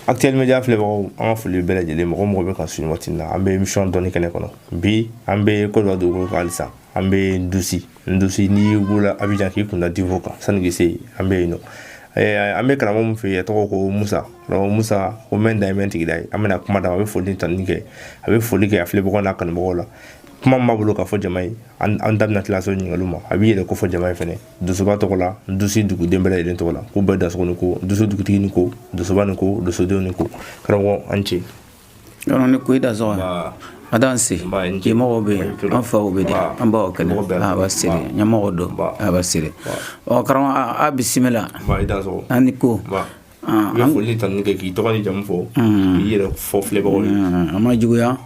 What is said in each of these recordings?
Actuel Media filɛbagaw an ka foli bɛɛ lajɛlen mɔgɔ mɔgɔ bɛ ka sun waati na an bɛ émission dɔnni kɛnɛ kɔnɔ bi an bɛ Côte d'Ivoire dugukolo kan halisa an bɛ Ndusi Ndusi n'i wulila Abidjan k'i kunda Divo kan sani k'i se yen an bɛ yen nɔ an bɛ karamɔgɔ min fɛ yen a tɔgɔ ko Musa karamɔgɔ Musa ko mɛn da ye mɛn tigi da ye an bɛna kuma d'a ma a bɛ foli ni tanuni kɛ a bɛ foli kɛ a filɛbagaw n'a kanubagaw la kuma min b'a bolo k'a fɔ jama ye an da bɛna tila se ɲininkaliw ma a b'i yɛrɛ kofɔ jama ye fɛnɛ donsoba tɔgɔ la Ndusi duguden bɛɛ lajɛlen tɔgɔ la k'u bɛɛ dansogo ni ko Ndusi dugutigi ni ko donsoba ni ko donsodenw ni ko karamɔgɔ a ni ce yɔrɔ ni ko i dansogo a dan se ɲɛmɔgɔw bɛ yen an faw bɛ de an baw kɛnɛ a b'a siri ɲɛmɔgɔ don a b'a siri ɔ karamɔgɔ a bisimila an ni ko An bɛ foli tanuni kɛ k'i tɔgɔ ni jamu fɔ k'i yɛrɛ fɔ filɛbagaw ye an ma juguya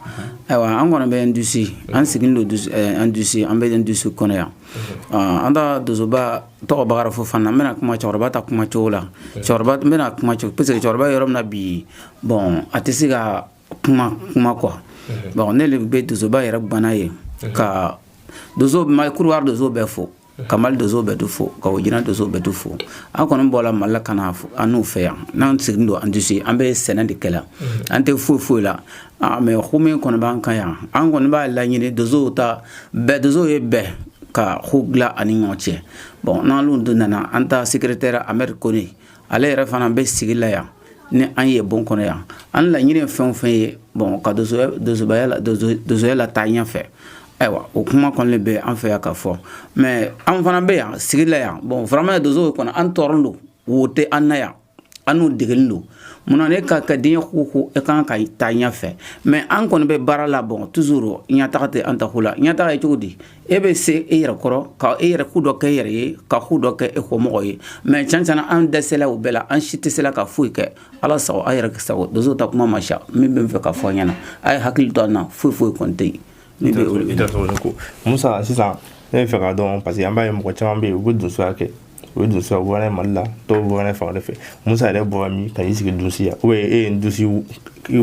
ayiwa an kɔni bɛ Ndusi an sigilen don Ndusi an Ndusi an bɛ Ndusi kɔnɔ yan an ta donsoba tɔgɔ Bakari Fofana n bɛna kuma cɛkɔrɔba ta kuma cogo la cɛkɔrɔba bɛna kuma cogo parce que cɛkɔrɔba yɔrɔ min na bi bon a tɛ se ka kuma kuma quoi bon ne le bɛ donsoba yɛrɛ banna ye ka Kɔdiwari donso bɛɛ fo ka mali donso bɛɛ to fo ka Burkina donso bɛɛ to fo an kɔni bɔra mali la ka na annu fɛ yan n'an sigilen don Ndusi an bɛ sɛnɛ de kɛ la an tɛ foyi foyi la mais ko min kɔni b'an kan yan an kɔni b'a laɲini donsow ta bɛɛ donso ye bɛɛ ka ko dilan an ni ɲɔgɔn cɛ bon n'an dun nana an ta secrétaire Ahmed Kone ale yɛrɛ fana bɛ sigi la yan ni an ye bon kɔnɔ yan an laɲini ye fɛn o fɛn ye bon ka donsokɛya lataa ɲɛfɛ ayiwa o kuma kɔni bɛ an fɛ yan ka fɔ mais an fana bɛ yan sigi la yan bon vraiment donso kɔni an tɔɔrɔlen don wo tɛ an na yan annu dɛgulen don munna ne ka ka diɲɛ ko ko e kan ka taa ɲɛfɛ mais an kɔni bɛ baara la bon toujours ɲɛtaga tɛ an ta ko la ɲɛtaga ye cogo di e bɛ se e yɛrɛ kɔrɔ ka e yɛrɛ ko dɔ kɛ e yɛrɛ ye ka ko dɔ kɛ e kɔmɔgɔ ye mais tiɲɛ an dɛsɛla o bɛɛ la an si tɛ se la ka foyi kɛ ala sago aw yɛrɛ sago donso ta kuma man ca min bɛ n fɛ ka fɔ ɲɛna a ye hakili to an na foyi foyi kɔni tɛ yen musa sisan ne b'a fɛ k'a dɔn parce que an b'a ye mɔgɔ caman bɛ yen u bɛ donsoya kɛ o ye donsoya bɔra mali la dɔw bɔra fan wɛrɛ fɛ musa yɛrɛ bɔra min ka n'i sigi Ndusi yan ou bien e ye Ndusi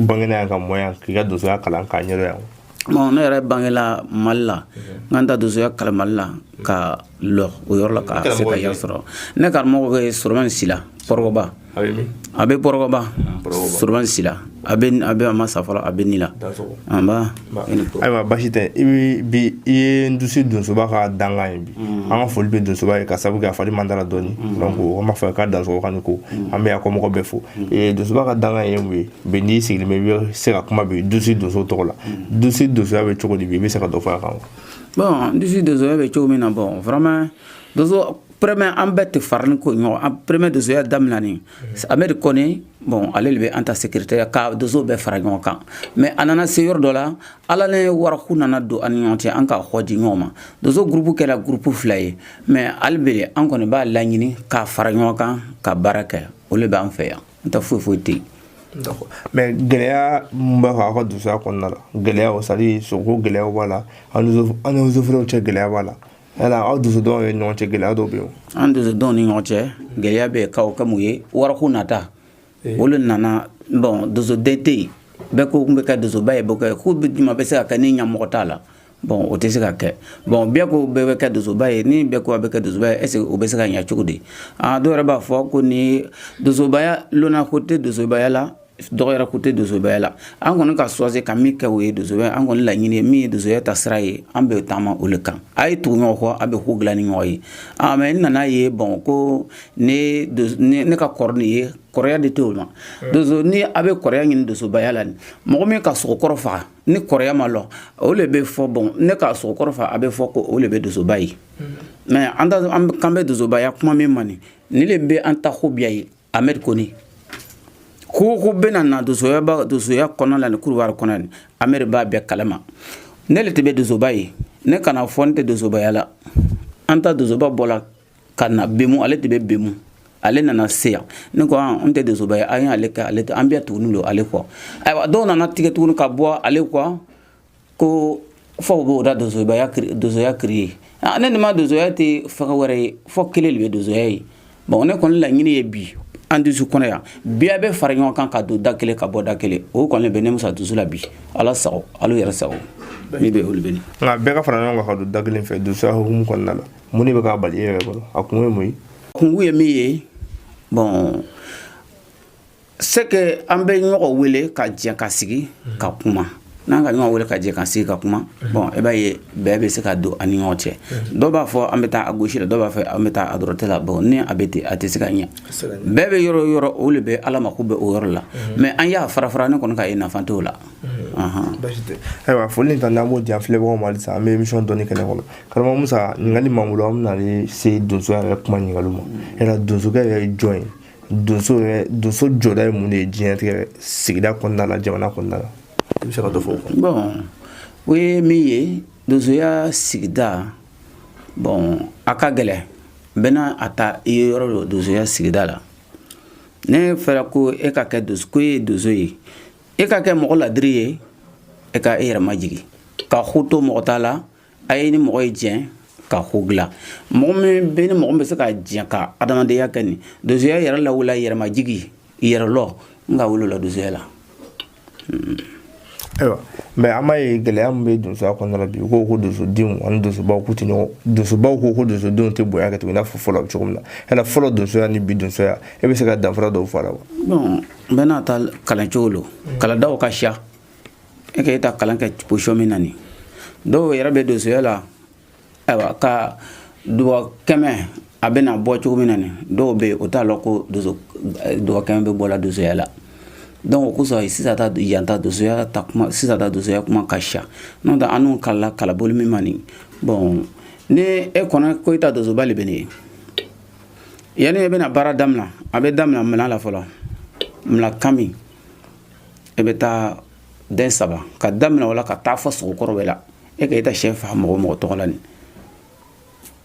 bangena yan ka mɔ yan k'i ka donsoya kalan k'a ɲɛdɔn yan bon ne yɛrɛ bangela mali la n ka n ta donsoya kalan mali la k'a lɔn o yɔrɔ la ka se ka yɛrɛ sɔrɔ ne karamɔgɔ bɛ soroman sila kɔrɔgɔba a bɛ kɔrɔgɔba soroman sila a bɛ a bɛ a ma sa fɔlɔ a bɛ ni la nba ayiwa basi tɛ i bɛ bi i ye Ndusi donsoba ka dankan ye bi an ka foli bɛ donsoba ye ka sabu kɛ a fari man dara dɔɔni donc o ma fɔ k'a dansogo k'a ni ko an bɛ yan kɔmɔgɔ bɛɛ fo donsoba ka dankan ye mun ye bi n'i sigilen bɛ i bɛ se ka kuma bi dusu donso tɔgɔ la mm. dusu donsoya bɛ cogo di bi i bɛ se ka dɔ fɔ a kan wa bɔn dusu donsoya bɛ cogo min na bɔn vraiment donso premier an bɛɛ tɛ farani don ɲɔgɔn kan premier donsoya daminɛni mm. amɛdi kɔnɛ bɔn ale de bɛ an ta secrétaire ka donso bɛɛ fara ɲɔgɔn kan mais a nana se yɔrɔ dɔ la ala ni wariko nana don an ni ɲɔgɔn cɛ an ka kɔ di ɲɔgɔn ma donso gurupu kɛra gurupu fila ye mais hali bi an kɔni b'a laɲini k'a fara ɲɔgɔn kan ka baara kɛ o le b'an fɛ yan n ta foyi foyi tɛ yen d'accord mais gɛlɛya mun b'aw fɛ aw ka donsoya kɔnɔna la gɛlɛyaw c'est à dire sogoko gɛlɛyaw b'a la aw ni aw ni eaux et forêts cɛ gɛlɛya b'a la yala aw donsodenw ni ɲɔgɔn cɛ gɛlɛya dɔw bɛ yen an donsodenw ni ɲɔgɔn cɛ gɛlɛya bɛ ka o kɛ mun ye wariko nata eh. o le nana bɔn donsoden tɛ yen bɛɛ ko k'u bɛ kɛ donsoba ye bɔ kɛ k'u bɛ juma bɛ se ka kɛ ni ɲɛmɔgɔ t'a la bɔn o tɛ se ka kɛ bɔn bɛɛ ko bɛɛ bɛ kɛ donsoba ye ni bɛɛ ko a bɛ kɛ donsoba ye est-ce que o bɛ se ka ɲɛ cogo di aa dɔw yɛrɛ b'a fɔ ko ni donsobaya lona ko tɛ donsobaya la dɔgɔyara ko tɛ donsobaya la an kɔni ka choisir ka min kɛ o ye donsoya an kɔni laɲini ye min ye donsoya taasira ye an bɛ taama o le kan a ye tugu ɲɔgɔn kɔ a bɛ ko dilan ni ɲɔgɔn ye aa mais n nana ye bɔn ko ne ne ka kɔrɔ nin ye kɔrɔya de tɛ o ma doso ni a bɛ kɔrɔya ɲini donsobaya la mɔgɔ min ka sogo kɔrɔ faga ni kɔrɔya ma lɔ o le bɛ fɔ bɔn ne ka sogo kɔrɔ fa a bɛ fɔ ko o le bɛ dosoba ye mm-hmm. mais an kan bɛ dosobaya kuma min ma nin ni le bɛ an ta ko biya ye amɛdi kɔnɛ ko ko bɛna na dosoya dosoya kɔnɔ la ni kurubari kɔnɔ ni amɛdi b'a bɛɛ kalama ne le tɛ bɛ dosoba ye ne kana fɔ n tɛ dosobaya la an ta dosoba bɔla ka na bemu ale tɛ bɛ bemu ale nana se yan ne ko ah, n tɛ donsoba ye an y'ale kɛ ale an bɛɛ tuguni don ale kɔ ayiwa dɔw nana tigɛ tuguni ka bɔ ale kɔ ko fɔ u b'u ta donsobaya donsoya créer ah, ne nin ma donsoya tɛ fɛn wɛrɛ ye fɔ kelen de bɛ donsoya ye bon ne kɔni laɲini ye bi an dusu kɔnɔ yan bi a bɛ fara ɲɔgɔn kan ka don da kelen ka bɔ da kelen o kɔni bɛ ne musa dusu la bi ala sago ala yɛrɛ sago min bɛ o le bɛ nka bɛɛ ka fara ɲɔgɔn kan ka don da kelen fɛ donsoya hukumu kɔnɔna la mun de bɛ k'a bali e yɛrɛ bolo a kun ye mun ye kun ye min ye bɔn c'est que an bɛ ɲɔgɔn wele ka jɛ ka sigi ka kuma n'an ka ɲɔgɔn wele ka jɛ ka sigi ka kuma bɔn i e b'a ye bɛn bɛ se ka don an ni ɲɔgɔn cɛ dɔw b'a fɔ an bɛ taa à gauche la dɔw b'a fɔ an bɛ taa à droite la bɔn ni a bɛ ten a tɛ se ka ɲɛ bɛn bɛ yɔrɔ o yɔrɔ o de bɛ ala mako bɛ o yɔrɔ la mais an y'a fara fara ne kɔni k'a ye nafa t'o la ayiwa foli ta n'an b'o di an filɛbagaw ma halisa an bɛ émission dɔnni kɛnɛ kɔnɔ karamɔgɔ musa ɲininkali m'an bolo an bɛna se donso yɛrɛ kuma ɲininkaliw ma yala donsokɛ yɛrɛ ye jɔn ye donso yɛrɛ donso jɔda ye mun de ye diɲɛlatigɛ sigida kɔnɔna la jamana kɔnɔna la i bɛ se ka dɔ fɔ o kan bon o ye min ye donsoya sigida bon a ka gɛlɛn bɛɛ n'a ta ye yɔrɔ dɔ donsoya sigida la n'a fɔra ko e ka kɛ donso ko e ye donso ye e ka kɛ mɔgɔ ladiri ye e ka e yɛrɛ majigi ka ko to mɔgɔ ta la a ye ni mɔgɔ ye jɛn ka ko dilan mɔgɔ min bɛ ni mɔgɔ bɛ se ka jɛn ka adamadenya kɛ nin donsoya yɛrɛ lawula yɛrɛmajigi yɛrɛlɔn n ka o lo lɔn donsoya la hmm. ayiwa mais an b'a ye gɛlɛya min bɛ donsoya kɔnɔna bi u ko ko donsodenw ani donsobaw k'u tɛ ɲɔgɔn donsobaw ko ko donsodenw tɛ bonya kɛ tugun i n'a fɔ fɔlɔ cogo min na yala fɔlɔ donsoya ni bi donsoya e bɛ se ka danfara dɔw fɔ a la wa n bɛɛ n'a ta kalan cogo lo kalandaw ka siya e ka e ta kalan kɛ position min na nin dɔw yɛrɛ bɛ donsoya la ayiwa ka dubaw kɛmɛ a bɛna bɔ cogo min na nin dɔw bɛ yen o t'a lɔn ko donso dubaw kɛmɛ bɛ bɔla donsoya la donc o kosɔn sisan ta yan ta donsoya ta kuma sisan ta donsoya kuma ka siya n'o tɛ annu kalanna kalanbolo min ma nin bon ni e kɔnɔ ko i ta donsoba le bɛ ne ye yanni e bɛna baara daminɛ a bɛ daminɛ minan la fɔlɔ minan kaman e bɛ taa den saba ka daminɛ o la ka taa fɔ sogo kɔrɔ bɛɛ la e ka e ta cɛ faga mɔgɔ mɔgɔ tɔgɔ la nin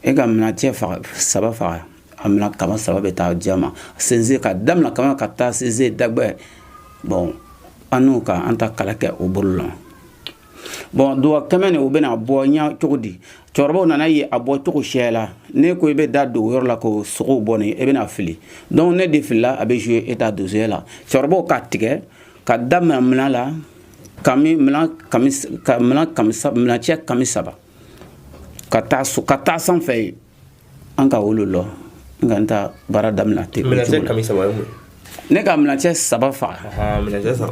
e ka minan cɛ faga saba faga a minan kaman saba bɛ taa di a ma sɛnsɛn ka daminɛ kama ka taa sɛnsɛn dagbɛ bon annu ka an ta kalan kɛ o bolo la bon dugawu kɛmɛ nin o bɛna bɔ ɲa cogo di cɛkɔrɔbaw nana ye a bɔ cogo sɛ la n'e ko i bɛ da don yɔrɔ la ko sogow bɔ nin i bɛna fili donc n'e de filila a bɛ jouer e ta donsoya la cɛkɔrɔbaw k'a tigɛ ka daminɛ minan la minan cɛ kaman saba ka taa sanfɛ ye an ka o lo lɔn n ka n ta baara damina ten minancɛ kaman saba ye mun n'e ka minancɛ saba faga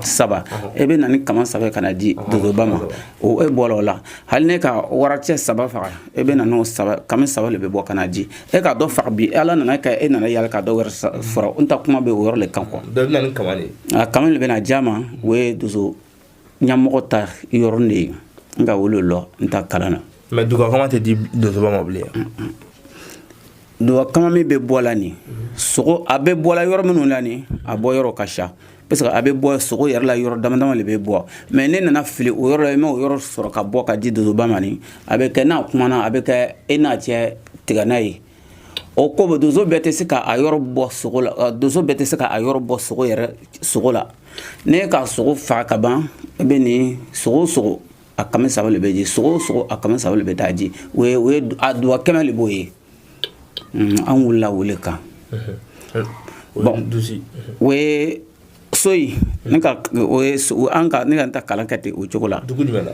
saba e bɛ na ni kaman saba ka na di donsoba ma o e bɔra o la hali n'e ka waracɛ saba faga e bɛ na n'o saba kaman saba de bɛ bɔ ka na di e ka dɔ faga bi ala nana kɛ e nana yala ka dɔ wɛrɛ faga n ta kuma bɛ o yɔrɔ le kan quoi kaman de bɛ na di a ma o ye donso ɲamɔgɔ ta yɔrɔnin de ye n ka o lo lɔn n ta kalan na mais dugakama tɛ di donsoba ma bilen dugakama min bɛ bɔ la nin sogo a bɛ bɔ la yɔrɔ minnu la nin a bɔ yɔrɔ ka ca parce que a bɛ bɔ sogo yɛrɛ la yɔrɔ dama dama de bɛ bɔ mais n'e nana fili o yɔrɔ la i ma o yɔrɔ sɔrɔ ka bɔ ka di donsoba ma nin a bɛ kɛ n'a kumana a bɛ kɛ e n'a cɛ tigɛna ye o ko bɛ donso bɛɛ tɛ se ka a yɔrɔ bɔ sogo la euh, donso bɛɛ tɛ se ka a yɔrɔ bɔ sogo yɛrɛ sogo la n'e ka sogo faga ka ban e bɛ nin sogo sogo a kɛmɛ saba le bɛ di sogo sogo a kɛmɛ saba le bɛ taa di o ye o ye a duwa kɛmɛ le b'o ye an wulila o le kan bon o ye soyi ne ka o ye an ka ne ka n ta kalan kɛ ten o cogo la dugu jumɛn na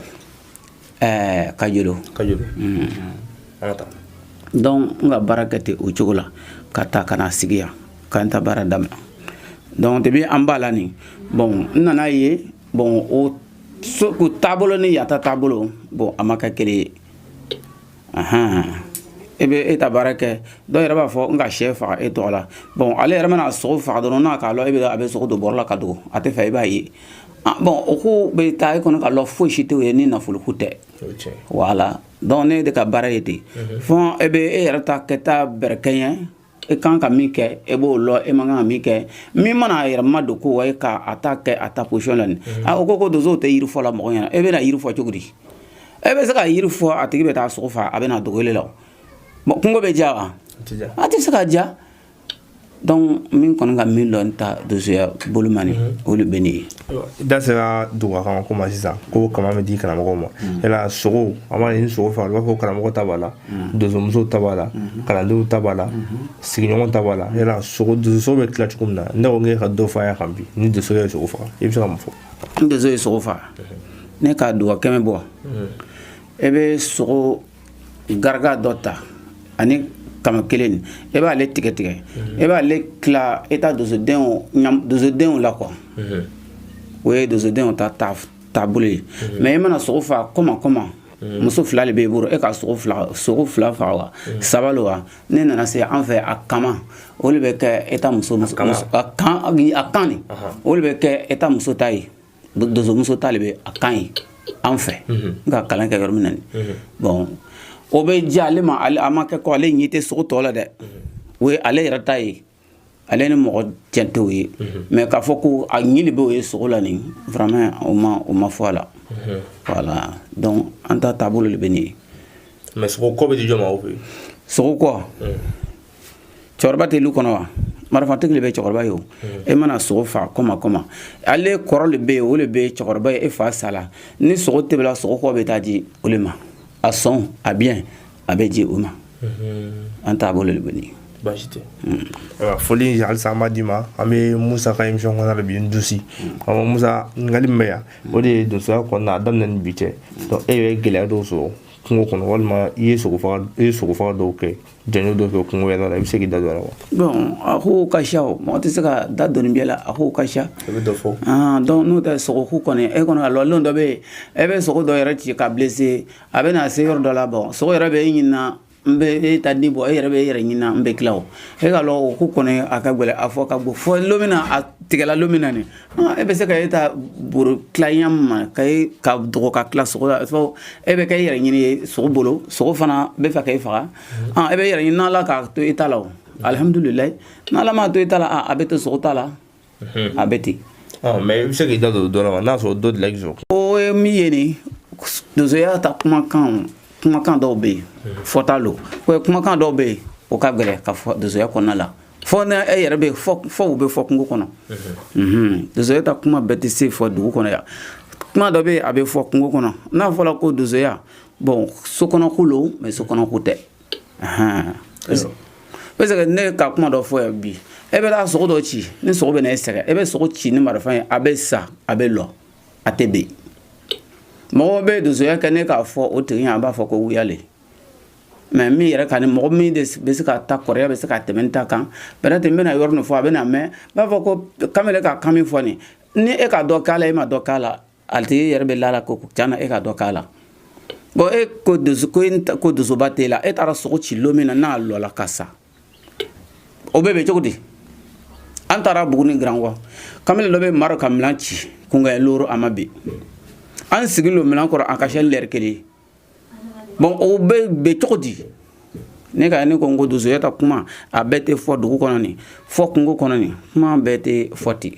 ɛɛ kajolo kajolo mm. an ka taa donc n ka baara kɛ ten o cogo la ka taa ka na sigi yan ka n ta baara daminɛ donc depuis an b'a la nin bon n nana ye bon o so ko taabolo ni yan ta taabolo bon a ma kɛ kelen ye e bɛ e ta baara kɛ dɔw yɛrɛ b'a fɔ n ka sɛ faga e tɔgɔ la bon ale yɛrɛ mana sogo faga dɔrɔn n'a k'a lɔn e bɛ a bɛ sogo don bɔrɔ la ka dogo a tɛ fɛ i b'a ye ah, bon o ko bɛ taa e kɔnɔ ka lɔ foyi si t'o ye ni nafoloko tɛ voilà donc ne de ka baara ye ten fɔ e bɛ e yɛrɛ ta kɛta bɛrɛkɛɲɛ e kan ka min kɛ e b'o lɔn e man kan ka min kɛ min mana a yɛrɛ ma don ko wa e ka a ta kɛ a ta position la nin a o ko ko donsow tɛ yiri fɔ la mɔgɔ ɲɛna e bɛna yiri fɔ cogo di e bɛ se ka yiri fɔ a tigi bɛ taa sogo faga a bɛna dogo e la o kungo bɛ ja wa a tɛ se ka ja donc min kɔni ka min lɔn n ta donsoya bolo ma nin mhm. o de bɛ ne ye da sera duga kaman ko ma sisan ko kaman bɛ di karamɔgɔ ma yala sogo an b'a mɛn ni sogo faga a b'a fɔ karamɔgɔ ta b'a la Mm-hmm. donsomuso ta b'a la mm-hmm. kalandenw ta b'a la mm-hmm. sigiɲɔgɔn ta b'a la yala sogo donso bɛ tila cogo min na ne ko k'e ka dɔ fɔ a kan bi ni donso ye sogo faga i bɛ se ka mun fɔ ni donso ye sogo faga n'e k'a duga kɛmɛ bɔ e bɛ sogo garaka dɔ ta ani kaman kelen nin e b'ale tigɛ tigɛ e b'ale tila e ta donsodenw ɲam donsodenw la quoi o ye donsodenw ta taabolo ye mais e mana sogo faga kɔma kɔma muso fila le b'e bolo e ka sogo fila sogo fila faga wa saba lo wa n'e nana se an fɛ a kaman o le bɛ kɛ e ta muso muso kan a kan nin o le bɛ kɛ e ta muso ta ye donsomuso ta le bɛ a kan ye an fɛ n ka kalan kɛ yɔrɔ min na nin bon o bɛ diya ale ma a ma kɛ ko ale ɲɛ tɛ sogo tɔ la dɛ o ye ale yɛrɛ ta ye ale ni mɔgɔ cɛ t'o ye mais k'a fɔ ko a ni le bɛ o ye sogo la nin vraiment o ma o ma fɔ a la voilà donc an ta taabolo le bɛ nin ye mais sogo kɔ bɛ di jɔn ma aw fɛ yen sogo kɔ cɛkɔrɔba tɛ lu kɔnɔ wa marifatigi le bɛ cɛkɔrɔba ye o e mana sogo fa kɔma kɔma ale kɔrɔ le bɛ yen o le bɛ cɛkɔrɔba ye e fa sala ni sogo tebela sogo kɔ bɛ taa di o le ma a sɔn a biɲɛ a bɛ di o ma an taabolo de bɛ baasi tɛ foli halisa n b'a d'i ma an bɛ musa ka imisɔn kɔnɔ de bi n dusi a ma musa ɲininkali min bɛ yan o de ye donsoya kɔnɔna a daminɛ ni bi cɛ e bɛ gɛlɛya dɔw sɔrɔ kungo kɔnɔ walima i ye sogofaga i ye sogofaga dɔw kɛ janjo dɔw kɛ kungo yɛrɛ la i bɛ se k'i da don a la wa bon a ko ka siya o mɔgɔ tɛ se ka da don nin bɛɛ la a ko ka siya i bɛ dɔ fɔ donc n'o tɛ sogo ko kɔni e kɔni ka lɔlen dɔ bɛ yen e bɛ sogo dɔ yɛrɛ ci ka blessé a bɛ na se yɔrɔ dɔ la bon sogo yɛrɛ bɛ e ɲini n bɛ e ta di bon e yɛrɛ bɛ e yɛrɛ ɲini n bɛ tila o e ka o ko kɔni a ka gɛlɛn a fɔ ka bon fo lon min na a tigɛla lon min na nin e bɛ se ka e ta boro tila ɲa ma ka e ka dogo ka tila sogo la fo e bɛ kɛ e yɛrɛ ɲini ye sogo bolo sogo fana b'a fɛ ka e faga e bɛ e yɛrɛ ɲini n'ala k'a to e ta la alihamudulila n'ala m'a to e ta la a bɛ to sogo ta la Mhm. a bɛ ten mais i bɛ se k'i da don dɔ la wa n'a sɔrɔ dɔ delila k'i sɔrɔ o ye min ye nin donsoya ta kumakan kumakan dɔw bɛ yen mhm. fɔta lo o ye kumakan dɔw bɛ yen o ka gɛlɛn ka fɔ donsoya kɔnɔna la fo n'a yɛrɛ bɛ fɔ u bɛ fɔ kungo kɔnɔ mhm. donsoya ta kuma bɛɛ tɛ se fɔ dugu kɔnɔ yan kuma dɔ bɛ yen a bɛ fɔ kungo kɔnɔ n'a fɔra ko donsoya bon sokɔnɔko lo mais sokɔnɔko tɛ parce que ne ka kuma dɔ fɔ yan bi e bɛ taa sogo dɔ ci ni sogo bɛ na e sɛgɛn e bɛ sogo ci ni marifa ye a bɛ sa a bɛ lɔ a tɛ bin mɔgɔ bɛ donsoya kɛ ne k'a fɔ o tigi ye a b'a fɔ ko wuya le mais min yɛrɛ ka ni mɔgɔ min de bɛ se ka ta kɔrɔya bɛ se ka tɛmɛ n ta kan peut-être n bɛna yɔrɔ nin fɔ a bɛn'a mɛn b'a fɔ ko kamalen ka kan min fɔ nin ni e ka dɔ k'a la e ma dɔ k'a la a tigi yɛrɛ bɛ la a la ko tiɲɛ na e ka dɔ k'a la bon e ko ko donsoba t'e la e taara sogo ci lo min na n'a lɔla ka sa o bɛɛ bɛ cogo di an taara buguni grankɔ kamalen dɔ bɛ mara ka minan ci kunkan looru a ma bin an sigi lo minan kɔrɔ an ka se lɛri kelen bon o bɛ bɛ cogo di ne ka ne ko n ko donsoya ta kuma a bɛɛ tɛ fɔ dugu kɔnɔ nin fɔ kungo kɔnɔ nin kuma bɛɛ tɛ fɔ ten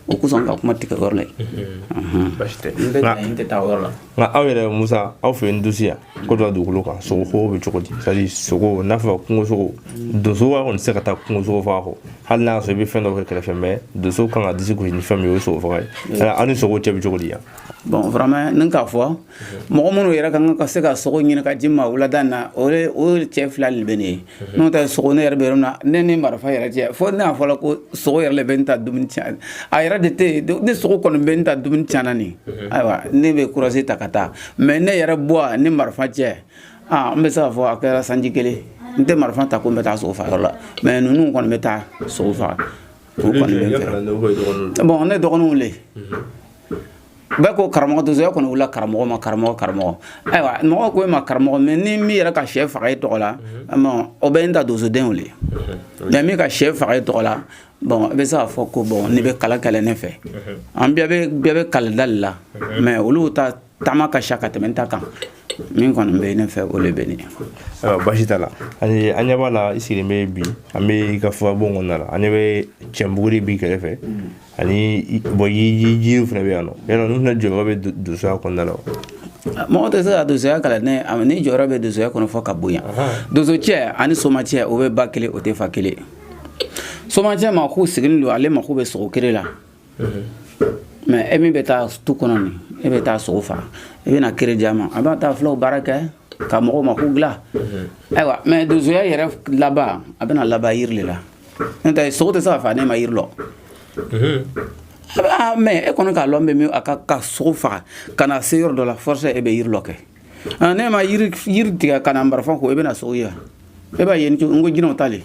o kosɔn n ka kuma tigɛ yɔrɔ la yen baasi tɛ n tɛ taa yɔrɔ la nka aw yɛrɛ musa aw fɛ yen dusu yan ko dɔ dugukolo kan sogo ko bɛ cogo di c'est-à-dire sogo n'a fɔ kungo sogo donso kɔni tɛ se ka taa kungo sogo faga kɔ hali n'a sɔrɔ i bɛ fɛn dɔ kɛ kɛrɛfɛ mais donso kan ka disi gosi ni fɛn min ye o ye sogo faga ye aw ni sogo cɛ bɛ cogo di yan bon vraiment ne k'a fɔ mɔgɔ minnu yɛrɛ ka kan ka se ka sogo ɲini ka ji ma wulada na o cɛ fila de bɛ ne ye n'o tɛ sogo ne yɛrɛ bɛ yɔrɔ min na ne ni marifa yɛrɛ cɛ fo n'a fɔra ko sogo yɛrɛ de bɛ ne ta dumuni tiɲɛ a yɛrɛ de tɛ yen ni sogo kɔni bɛ ne ta dumuni tiɲɛna nin ayiwa ne bɛ courage ta ka taa mais ne yɛrɛ bɔ ni marifa cɛ aa n bɛ se k'a fɔ a kɛra sanji kelen n tɛ marifa ta ko n bɛ taa sogo faga yɔrɔ la mais ninnu kɔni bɛ taa sogo faga o kɔni bɛ n fɛ bon ne dɔgɔninw le bɛɛ ko karamɔgɔ tɛ sɔrɔ e kɔni wulila karamɔgɔ ma karamɔgɔ karamɔgɔ ayiwa mɔgɔ ko e ma karamɔgɔ mɛ ni min yɛrɛ ka sɛ faga e tɔgɔ la mhm. o bɛ n ta donsodenw le mhm. mɛ min ka sɛ faga e tɔgɔ la bɔn i bɛ se k'a fɔ ko bɔn ne bɛ kalan kɛ le ne fɛ mhm. an bɛɛ bɛ bɛɛ bɛ kalan da le la mɛ olu ta taama ka ca ka tɛmɛ n ta kan min kɔni bɛ ne fɛ o de bɛ ne ayiwa basi t'a la ani an ɲɛ b'a la i sigilen bɛ bi an bɛ i ka furabon kɔnɔna la an ɲɛ bɛ cɛnbuguri b'i kɛrɛfɛ mm. ani bɔn yiriw fana bɛ yan nɔ yala ninnu fana jɔyɔrɔ bɛ donsoya kɔnɔna la mɔgɔ tɛ se ka donsoya kalan ne ni jɔyɔrɔ bɛ donsoya kɔnɔ fɔ ka bonya donso cɛ ani soma cɛ o bɛ ba kelen o tɛ fa kelen soma cɛ mɔgɔ sigilen don ale mako bɛ sogo kere la mɛ e min bɛ taa tu kɔnɔ nin e bɛ taa sogo faga i bɛna kere di a ma a bɛ taa filaw baara kɛ ka mɔgɔw mako dilan ayiwa mɛ donsoya yɛrɛ laban a bɛna laban yiri de la n'o tɛ sogo tɛ se ka faga n'e ma yiri lɔ mɛ e kɔni k'a lɔn bɛ min a ka ka sogo faga ka na se yɔrɔ dɔ la forcé e bɛ yiri lɔ kɛ n'e ma yiri yiri tigɛ ka na marifa ko e bɛna sogo ye wa e b'a ye n ko jinɛw ta le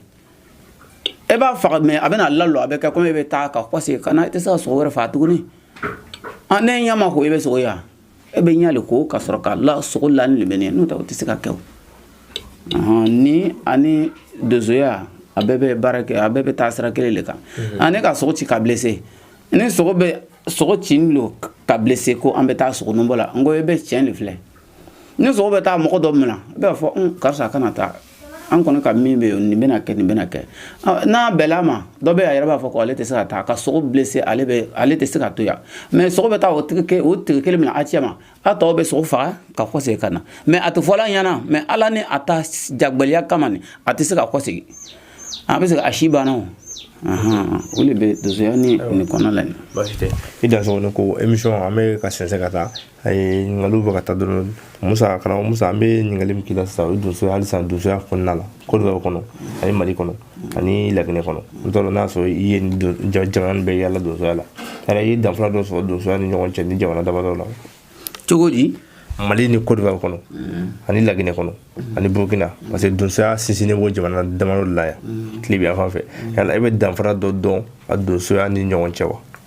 e b'a faga mɛ a bɛna lalɔ a bɛ kɛ komi e bɛ taa ka kɔse ka na i tɛ se ka sogo wɛrɛ faga tuguni n'e ɲɛ ma ko e bɛ sogo ye wa e bɛ ɲa le ko ka sɔrɔ ka la sogo la nin le bɛ nin n'o tɛ o tɛ se ka kɛ o ni ani donsoya a bɛɛ bɛ baara kɛ a bɛɛ bɛ taa sira kelen de kan mhm. ani ka sogo ci ka blessé ni sogo bɛ sogo cilen don ka blessé ko an bɛ taa sogo nɔbɔ la n ko e bɛ tiɲɛ de filɛ ni sogo bɛ taa mɔgɔ dɔ minɛ i b'a fɔ karisa kana taa an kɔni ka min bɛ yen nin bɛna kɛ nin bɛna kɛ n'a bɛɛ la maa dɔ bɛ a yɛrɛ b'a fɔ ko ale tɛ se ka taa ka sogo blessé ale bɛ ale tɛ se ka to yan mɛ sogo bɛ taa o tigi o tigi kelen mina cɛma a tɔw bɛ sogo faga ka kɔsegin ka na mɛ a tɛ fɔla ɲɛna mɛ ale ni a ta jagbɛlɛya kama nin a tɛ se ka kɔsegin a bɛ se a si banna o o de bɛ donsoya ni nin kɔnɔ la nin i dansɔgɔ ko emisɔn an bɛ ka sɛnsɛn ka taa a ye ɲininkaliw bɛ ka taa dɔrɔn musa karamɔgɔ musa an bɛ ɲininkali min k'i la sisan o ye donsoya hali sisan donsoya kɔnɔna la kodiwari kɔnɔ ani mali kɔnɔ ani laginɛ kɔnɔ n t'a dɔn n'a sɔrɔ i ye jamana nin bɛɛ yaala donsoya la yala i ye danfara dɔ sɔrɔ donsoya ni ɲɔgɔn cɛ nin jamana damadɔ la cogo di mali ni kodiwari kɔnɔ ani laginɛ kɔnɔ ani burukina parce que donsoya sinsinnen b'o jamana damadɔ la yan tilebi yan fan fɛ yala i bɛ danfara dɔ dɔn a donsoya ni ɲɔgɔn cɛ wa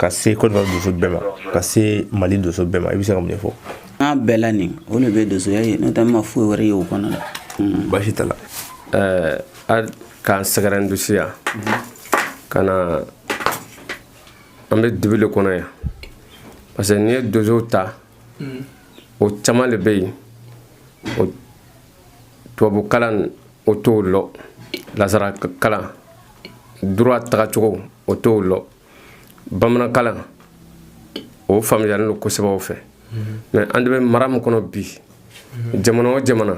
ka se Côte d'Ivoire donso bɛɛ ma ka se Mali donso bɛɛ ma i bɛ se ka mun de fɔ. N'a bɛɛ la nin o de bɛ donsoya ye n'o tɛ n ma foyi wɛrɛ ye o kɔnɔ la. Baasi t'a la ɛɛ a k'an sɛgɛrɛ n dusu yan ka na an bɛ dibi de kɔnɔ yan parce que n'i ye donsow ta o caman de bɛ yen o tubabu kalan o t'o lɔ nasara kalan droit tagacogo o t'o lɔ. bamanankalan o faamuyalen don kosɛbɛ o fɛ mais an de bɛ mara min kɔnɔ bi jamana o jamana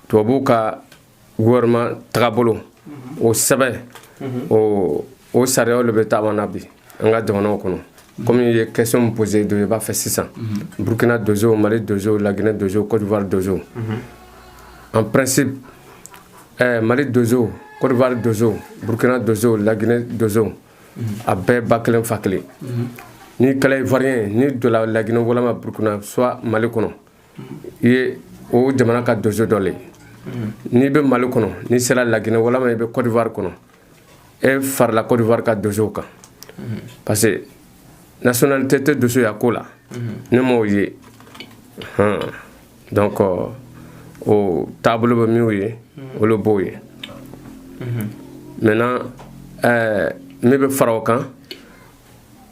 tubabuw ka gouvernement tagabolo o sɛbɛn o o sariyaw le bɛ taama na bi an ka jamanaw kɔnɔ komi i ye question min posé do i b'a fɛ sisan burkina dozo mali dozo laginɛ dozo côte d'ivoire dozo en principe Ɛɛ mali donso kɔdiwari donso burukina donso laginɛ donso a bɛɛ ba kelen fa kelen n'i kɛla ivoirien n'i donna laginɛ walima burukina soit mali kɔnɔ i ye o jamana ka donso dɔ le n'i bɛ mali kɔnɔ n'i sera laginɛ walima i bɛ kɔdiwari kɔnɔ e farala kɔdiwari ka donso kan parce que nationalité tɛ donsoya ko la ne m'o ye hɔn donc euh, o taabolo bɛ minnu ye mm-hmm. olu b'o ye mm-hmm. maintenant ɛɛ min bɛ fara o kan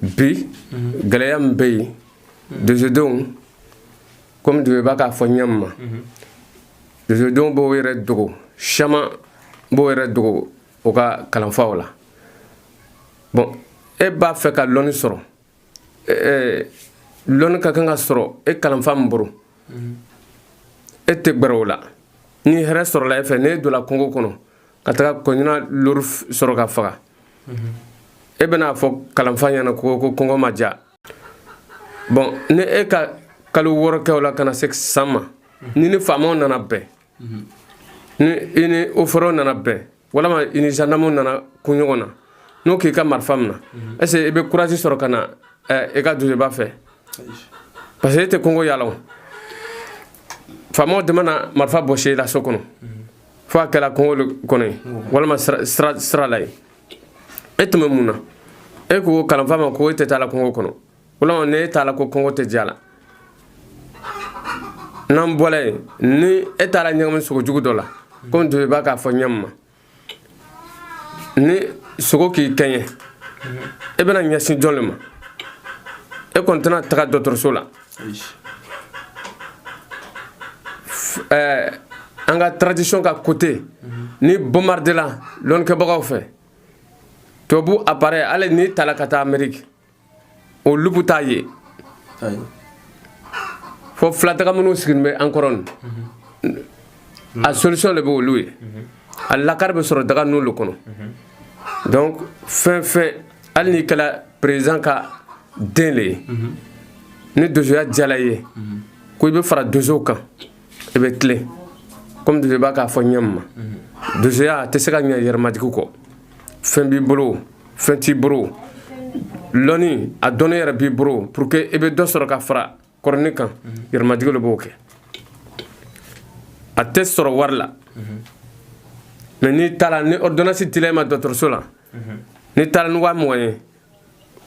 bi mm-hmm. gɛlɛya min bɛ yen dozodenw komi dozoba k'a fɔ ɲɛ min ma dozodenw b'o yɛrɛ dogo caman b'o yɛrɛ dogo o ka kalanfaw la bon e b'a fɛ ka lɔnni sɔrɔ lɔnni ka kan ka sɔrɔ e kalanfa min bolo e tɛ gbɛrɛ o la ni hɛrɛ sɔrɔla e fɛ n'e donna kungo kɔnɔ ka taga kɔɲina lori sɔrɔ ka faga e bɛna a fɔ kalanfa ɲɛna ko ko kɔngɔ ma diya bon ni e ka kalo wɔɔrɔ kɛ o la ka na se san ma n'i ni faamaw nana bɛn ni i ni ofɔrɛw nana bɛn walima i ni zandamuw nana kun ɲɔgɔn na n'o k'i ka marifa mina est-ce que mhm. i bɛ courage sɔrɔ ka na eh, i ka dozoba fɛ parce que e tɛ kɔngɔ yaala o faamaw de ma na marifa bɔsi i la so kɔnɔ mhm. fo a kɛra kɔngɔ kɔnɔ ye walima sira la ye e tun bɛ mun na e ko kalanfa ma ko e tɛ taa la kɔngɔ kɔnɔ walima n'e taala ko kɔngɔ tɛ diya la n'an bɔra yen ni e taara ɲagami sogo jugu dɔ la komi dozoba k'a fɔ ɲɛ min ma ni sogo k'i kɛɲɛ e bɛna ɲɛsin jɔn le ma e kɔni tɛna taga dɔgɔtɔrɔso la ɛɛ an ka tradition ka côté n'i bombardela lɔnnikɛbagaw fɛ tubabu appareil hali n'i tala ka taa ameriki o lupu t'a ye fo filadaga minnu siginin bɛ an kɔrɔ a solution le bɛ olu ye a lakari bɛ sɔrɔ daga nunu le kɔnɔ donc fɛn fɛn hali n'i kɛla président ka den le ye ni dozoya diyala i ye ko i bɛ fara dozow kan i bɛ tilen komi donsoba k'a fɔ ɲɛ ma donsoya a tɛ se ka ɲɛ yɛrɛmajigi kɔ fɛn b'i bolo fɛn t'i bolo lɔni a dɔnni yɛrɛ b'i bolo pour que i bɛ dɔ sɔrɔ ka fara kɔrɔni kan yɛrɛmajigi le b'o kɛ a tɛ sɔrɔ wari la mais n'i taara ni ordonnance dila i ma dɔgɔtɔrɔso la n'i taara ni waa mugan ye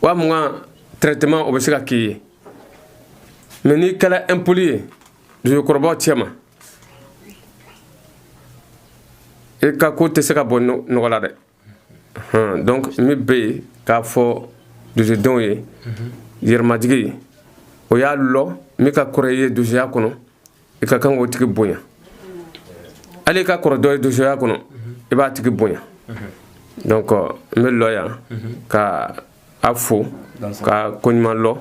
waa mugan traitement o bɛ se ka k'i ye mais n'i kɛla impoli ye Donsokɔrɔbaw cɛma i ka ko tɛ se ka bɔ nɔgɔ la dɛ donc min bɛ yen k'a fɔ donsodenw ye yɛrɛmajigi o y'a lɔn min ka kɔrɔ i ye donsoya kɔnɔ i ka kan k'o tigi bonya hali i ka kɔrɔ dɔ ye donsoya kɔnɔ i b'a tigi bonya donc n bɛ lɔ yan ka a fo ka koɲuman lɔn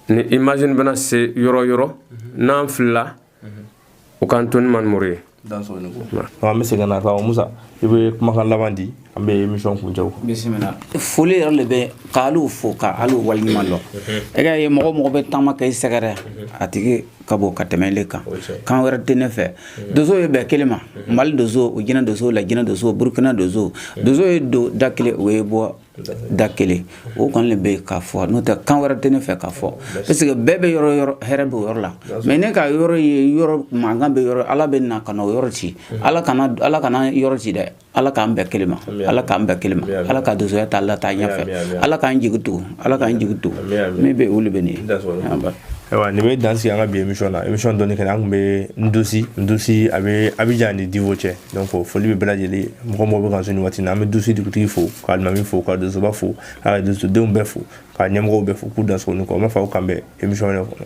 ni image in bɛna se yɔrɔ yɔrɔ n'an filila u k'an to ni manimuru ye an bɛ segin na ka musa i bɛ kumakan laban di an bɛ émission kuncɛ bisimila foli yɛrɛ le bɛ k'alu fo k'alu waleɲuman lɔn i k'a ye mɔgɔ mɔgɔ bɛ taama ka i sɛgɛrɛ a tigi ka bon ka tɛmɛ ile kan kan wɛrɛ tɛ ne fɛ donsow ye bɛɛ kelen ma mali donso o jinɛ donso lajinɛ donso burukina donso donso ye don da kelen o ye bɔ da kelen o kɔni le bɛ k'a fɔ n'o tɛ kan wɛrɛ tɛ ne fɛ k'a fɔ parce que bɛn bɛ yɔrɔ yɔrɔ hɛrɛ bɛ o yɔrɔ la mais n'i ka yɔrɔ ye yɔrɔ mankan bɛ yɔrɔ ala bɛ na ka na o yɔrɔ ci ala kana ala kana yɔrɔ ci dɛ ala k'an bɛɛ kelen ma ala k'an bɛɛ kelen ma ala ka donsoya ta a lataa ɲɛfɛ ala k'an jigi to ala k'an jigi to min bɛ olu bɛ nin ayiwa nin bɛ dan sigi an ka bi émission na émission dɔnni kɛnɛ an tun bɛ ndosi ndosi a bɛ abijan ni diwo cɛ donc foli bɛ bɛɛ lajɛlen mɔgɔ mɔgɔ bɛ kan so nin waati na an bɛ ndosi dugutigi fo ka alimami fo ka donsoba fo ka donsodenw bɛɛ fo ka ɲɛmɔgɔw bɛɛ fo k'u dansogo ni kɔ n b'a fɔ aw k'an bɛn émission wɛrɛ kɔnɔ